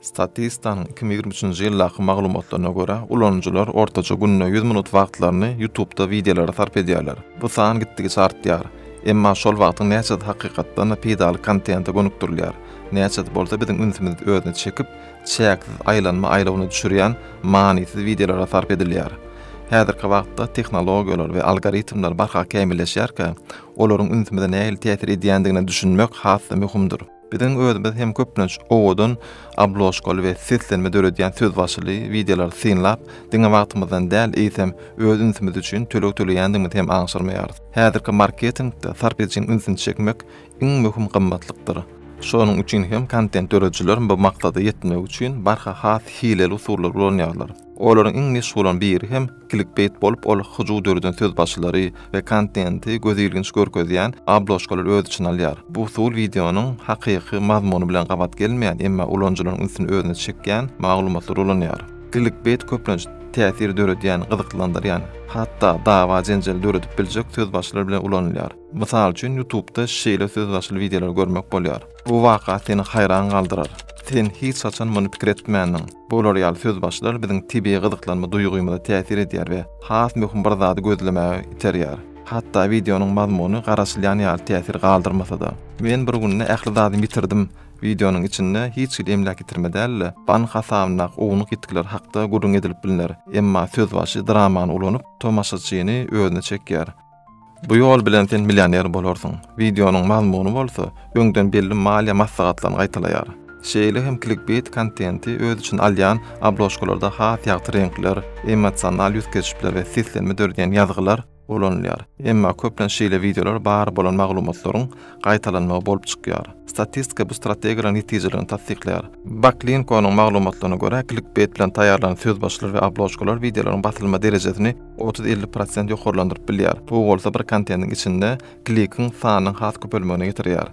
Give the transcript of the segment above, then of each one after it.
Statista-nyň iki müň ýigrimi üçünji ýyldaky maglumatlaryna görä, ulanyjylar ortaça günde ýüz minut wagtlaryny YouTube-da wideolara sarp edýärler. Bu san gitdigiçe artýar. Emma şol wagtyň näçesi hakykatdan-da peýdaly kontente gönükdirilýär, näçesi bolsa biziň ünsümizi özüne çekip, çäksiz aýlanma aýlawyna düşürýän manysyz wideolara sarp edilýär? Häzirki wagtda tehnologiýalar we algoritmler barha kämilleşýärkä, olaryň ünsümize nähili täsir edýändigine düşünmek has-da möhümdir. Biziň özümiz hem köplenç owadan obložkaly we seslenme döredýän sözbaşyly wideolary synlap, diňe wagtymyzdan däl, eýsem, öz ünsümiz üçin töleg töleýändigimizi hem aňşyrmaýarys. Häzirki marketingde sarp edijiň ünsüni çekmek iň möhüm gymmatlykdyr. Şonuň üçin hem kontent döredijiler bu maksada ýetmek üçin barha has hileli usullary ulanýarlar. Olaryň iň meşhurynyň biri hem Klikbeýt bolup ol hyjuw döreden söz başylary we kontenti gözilginç görkezýän obložkalary öz içine alýar. Bu usul wideonyň hakyky mazmuny bilen gabat gelmeýän, emma ulanyjylaryň ünsüni özüne çekýän maglumatlary ulanýar. Klikbeýt köplenç täsir döredýän, gyzyklandyrýan, hatda dawa-jenjeli döredip biljek söz başylary bilen ulanylýar. Mysal üçin, Ýutubda şeýle söz başyly wideolary görmek bolýar. Bu waka seni haýran galdyrar. Sen hiç haçan muny pikir etmändiň. Bular ýaly sözbaşylar biziň tebigy gyzyklanma duýgymyza täsir edýär we has möhüm bir zady gözlemäge iterýär. Hatda wideonyň mazmuny garaşylýan ýaly täsir galdyrmasa-da. Men bir günde ähli zadymy ýitirdim. Wideonyň içinde hiç hili emläk ýitirme däl-de, bank hasabyndaky ownuk ýitgiler hakda gürrüň edilip bilner. Emma sözbaşy dramany ulanyp, tomaşaçyny özüne çekýär. Bu ýol bilen sen millioner bolarsyň. Wideonyň mazmuny bolsa, öňden belli maliýe maslahatlaryny gaýtalaýar. Şeýle hem klikbeýt kontenti öz içine alýan obložkalarda has ýagty reňkler, emosional ýüz keşpler we seslenme döredýän ýazgylar ulanylýar. Emma köplenç şeýle wideolar bar bolan maglumatlaryň gaýtalanmagy bolup çykýar. Statistika bu strategiýalaryň netijeligini tassyklaýar. Backlinkonyň maglumatlaryna görä, klikbeýt bilen taýýarlanan sözbaşylar we obložkalar wideolaryň basylma derejesini, otuz-elli prosent ýokarlandyryp bilýär. Bu bolsa bir kontentiň içinde klikiň sanynyň has köpelmegine getirýär.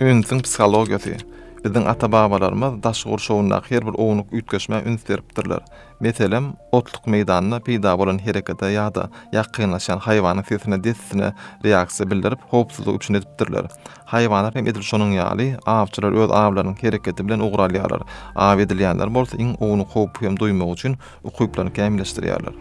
Ünsüň psihologiýasy. Biziň ata-babalarymyz daş gurşawyndaky her bir ownuk üýtgeşmä üns beripdirler. Meselem, otluk meýdanda peýda bolan herekete ýa-da ýakynlaşýan haýwanyň sesine dessine reaksiýa bildirip, howpsuzlyk üçin edipdirler. Haýwanlar hem edil şonuň ýaly, awçylar öz awlarynyň hereketi bilen ugur alýarlar, aw edilýänler bolsa iň ownuk howpy hem duýmak üçin ukyplaryny kämilleşdirýärler.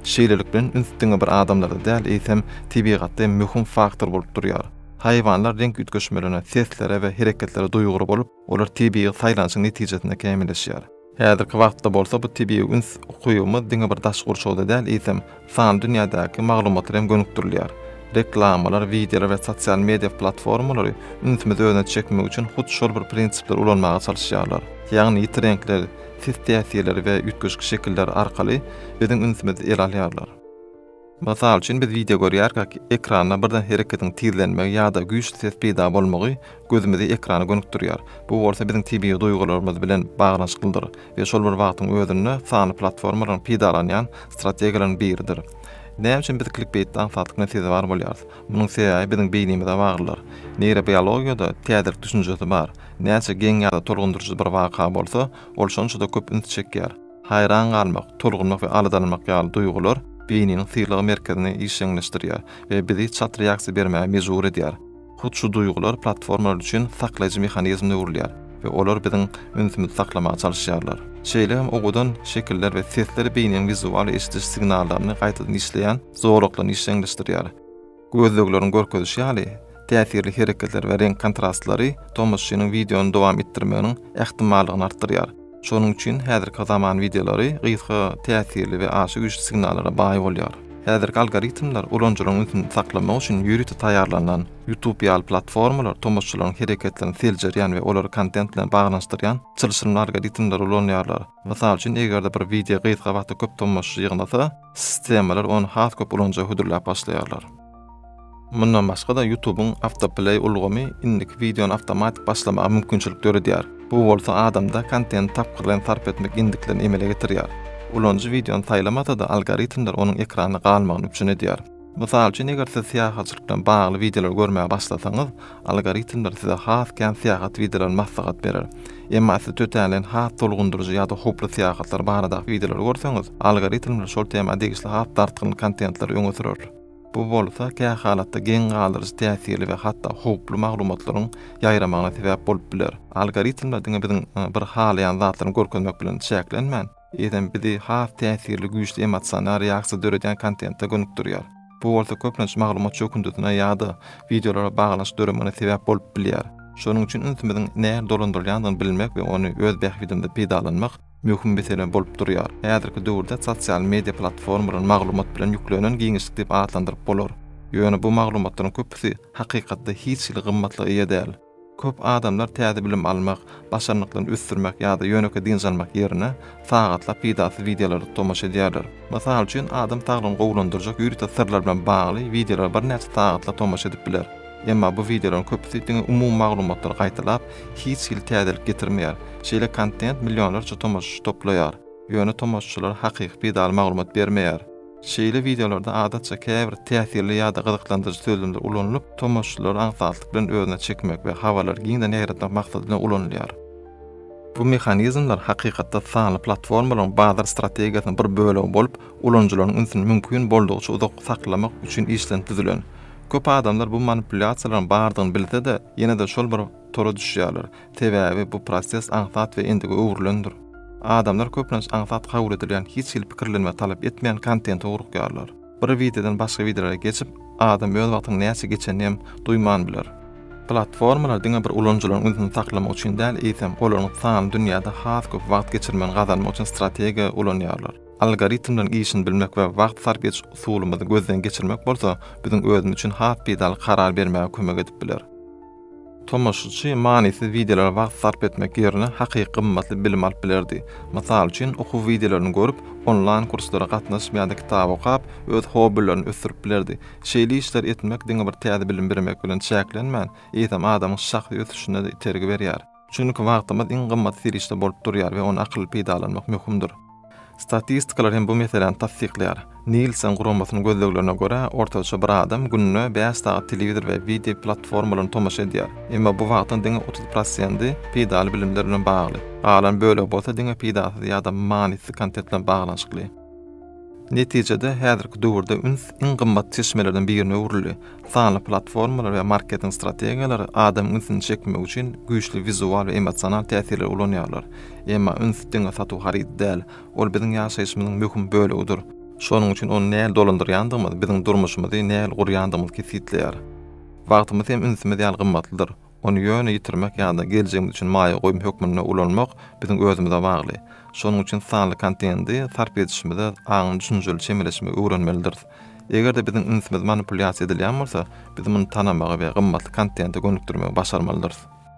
Şeýlelik bilen üns diňe bir adamlarda däl, eýsem, tebigatda hem möhüm faktor bolup durýar. Haýwanlar reňk üýtgeşmelerine, seslere we hereketlere duýgur bolup, olar tebigy saýlanyşyň netijesinde kämilleşýär. Häzirki wagtda bolsa bu tebigy üns ukybymyz diňe bir daş gurşawda däl, eýsem, Sanly dünýädäki maglumatlar hem gönükdirilýär. Reklamalar, wideolar we sosial media platformalary ünsümizi özüne çekmek üçin hut şol bir prinsipleri ulanmaga çalyşýarlar. Ýagny ýiti reňkler, sis täsirleri we üýtgeşik şekiller arkaly biziň ünsümizi ele alýarlar. Mysal üçin, biz wideo görýärkäk, ekranda birden hereketiň tizlenmegi ýa-da güýçli ses peýda bolmagy gözümizi ekrana gönükdirýär, bu bolsa biziň tebigy duýgularymyz bilen baglanyşyklydyr we şol bir wagtyň özünde sanly platformalaryň peýdalanýan strategiýalarynyň biridir. Näme üçin biz klikbeýtde aňsatlygyna sezewar bolýarys? Munuň sebäbi biziň beýnimize baglydyr. Neýrobiologiýada täzelik düşünjesi bar, näçe geň ýa-da tolgundyryjy bir waka bolsa, ol şonça-da köp üns çekýär. Haýran galmak, tolgunmak we aladalanmak ýaly duýgular beýniniň sylag merkezini işjeňleşdirýär we bizi çalt reaksiýa bermäge mejbur edýär. Hut şu duýgular platformalar üçin saklaýjy mehanizmde gurulýar we olar biziň ünsümizi saklamaga çalyşýarlar. Şeýle hem owadan şekiller we sesler beýniniň wizual eşidiş signallaryny gaýtadan işleýän zolaklaryny işjeňleşdirýär. Gözlegleriň görkezişi ýaly, täsirli hereketler we reňk kontrastlary tomaşaçynyň wideony dowam etdirmeginiň ähtimallygyny artdyrýar. Şonuň üçin häzirki zaman wideolary gysga, täsirli we aşa güýçli signallara baý bolýar. Häzirki algoritmler ulanyjylaryň ünsüni saklamak üçin ýörite taýýarlanan. YouTube ýaly platformalar tomaşaçylaryň hereketlerini seljerýän we olary kontent bilen baglanyşdyrýan çylşyrymly algoritmleri ulanýarlar. Mysal üçin, eger-de bir wideo gysga wagtda köp tomaşaçy ýygnasa, sistemalar ony has köp ulanyja hödürläp başlaýarlar. Mundan başga-da, YouTube-yň Autoplay ulgamy indiki wideony awtomatik başlamaga mümkinçilik döredýär, bu bolsa adamda kontenti tapgyrlaýyn sarp etmek endiklerini emele getirýär. Ulanyjy wideony saýlamasa-da, algoritmler onuň ekranda galmagyny üpjün edýär. Mysal üçin, eger siz syýahatçylyk bilen bagly wideolary görmäge başlasaňyz, algoritmler size has kän syýahat wideolaryny maslahat berer. Emma siz tötänleýin has tolgundyryjy ýa-da howply syýahatlar baradaky wideolary görseňiz, algoritmler şol tema degişli has dartgyn kontentleri öňe sürer. Bu bolsa kä halatda geň galdyryjy täsirli we hatda howply maglumatlaryň ýaýramagyna sebäp bolup biler. Algoritmler diňe biziň bir halaýan zatlaryny görkezmek bilen çäklenmän, eýsem bizi has täsirli güýçli emosional reaksiýa döredýän kontente gönükdirýär. Bu bolsa köplenç maglumat çökündisine ýa-da wideolara baglanyşyk döremegine sebäp bolup bilýär. Şonuň üçin ünsümiziň nähili dolandyrylýandygyny bilmek we ony öz bähbidimize peýdalanmak möhüm mesele bolup durýar. Häzirki döwürde sosial media platformalary maglumat bilen ýüklenen giňişlik diýip atlandyryp bolar. Ýöne bu maglumatlaryň köpüsi hakykatda hiç hili gymmatlyga eýe däl. Köp adamlar täze bilim almak, başarnyklaryny ösdürmek ýa-da ýönekeý dynç almak ýerine, sagatlap peýdasyz wideolara tomaşa edýärler. Mysal üçin, adam saglygyny gowulandyrjak ýörite syrlar bilen bagly wideolara birnäçe sagatlap tomaşa edip biler. Emma bu wideolaryň köpüsi diňe umumy maglumatlary gaýtalap, hiç hili täzelik getirmeýär. Şeýle kontent millionlarça tomaşaçy toplaýar, ýöne tomaşaçylara hakyky peýdaly maglumat bermeýär. Şeýle wideolarda adatça käbir täsirli ýa-da gyzyklandyryjy sözlemler ulanylyp, tomaşaçylary aňsatlyk bilen özüne çekmek we habarlary giňden ýaýratmak maksady bilen ulanylýar. Bu mehanizmler hakykatda sanly platformalaryň bazar strategiýasynyň bir bölegi bolup, ulanyjylaryň ünsüni mümkin boldugyça uzak saklamak üçin işlenip düzülen. Köp adamlar bu manipulýasiýalaryň bardygyny bilse-de, ýene-de şol bir tora düşýärler. Sebäbi bu proses aňsat we endige öwrülendir. Adamlar köplenç aňsat kabul edilýän hiç hili pikirlenme talap etmeýän kontente ugrukýarlar. Bir wideodan başga wideolara geçip, adam öz wagtynyň näçe geçenini hem duýman biler. Platformalar diňe bir ulanyjylaryň ünsüni saklamak üçin däl, eýsem, olaryň sanly dünýäde has köp wagt geçirmegini gazanmak üçin strategiýa ulanýarlar. Algoritmleriň işini bilmek we wagt sarp ediş usulymyzy gözden geçirmek bolsa, biziň özümiz üçin has peýdaly karar bermäge kömek edip biler. Tomaşaçy manysyz wideolara wagt sarp etmek ýerine hakyky gymmatly bilim alyp bilerdi. Mysal üçin, okuw wideolaryny görüp, onlaýn kurslara gatnaşyp ýa-da kitap okap, öz hobbilerini ösdürip bilerdi. Şeýle işleri etmek diňe bir täze bilim birmek bilen çäklenmän, eýsem adamyň şahsy ösüşine-de itergi berýär. Çünki wagtymyz iň gymmat serişde bolup durýar we ony akylly peýdalanmak möhümdir. Statistikalar hem bu meseläni tassyklaýar. Nielsen guramasynyň gözleglerine görä, ortaça bir adam günde bäş sagat telewizor we wideo platformalaryna tomaşa edýär. Emma bu wagtyň diňe otuz prosenti peýdaly bilimler bilen bagly. Galan bölegi bolsa diňe peýdasyz ýa-da manysyz kontent bilen baglanyşykly. Netijede, häzirki döwürde üns iň gymmat çeşmelerden birine öwrüldi. Sanly platformalar we marketing strategiýalary adamyň ünsüni çekmek üçin güýçli wizual we emosional täsirleri ulanýarlar. Emma üns diňe satuw harydy däl, ol biziň ýaşaýşymyzyň möhüm bölegidir. Şonuň üçin ony nähili dolandyrýandygymyz biziň durmuşymyzy nähili gurýandygymyzy kesgitleýär. Wagtymyz hem ünsümiz ýaly gymmatlydyr. Ony ýöne ýitirmek ýa-da geljegimiz üçin maýa goýum hökmünde ulanmak biziň özümize bagly. Şonuň üçin sanly kontendi sarp edişimize aňyň düşünjeli çemeleşmegi öwrenmelidiris. Eger-de biziň ünsümiz manipulýasiýa edilýän bolsa, biz muny tanamagy we gymmatly kontente gönükdirmegi başarmalydyrys.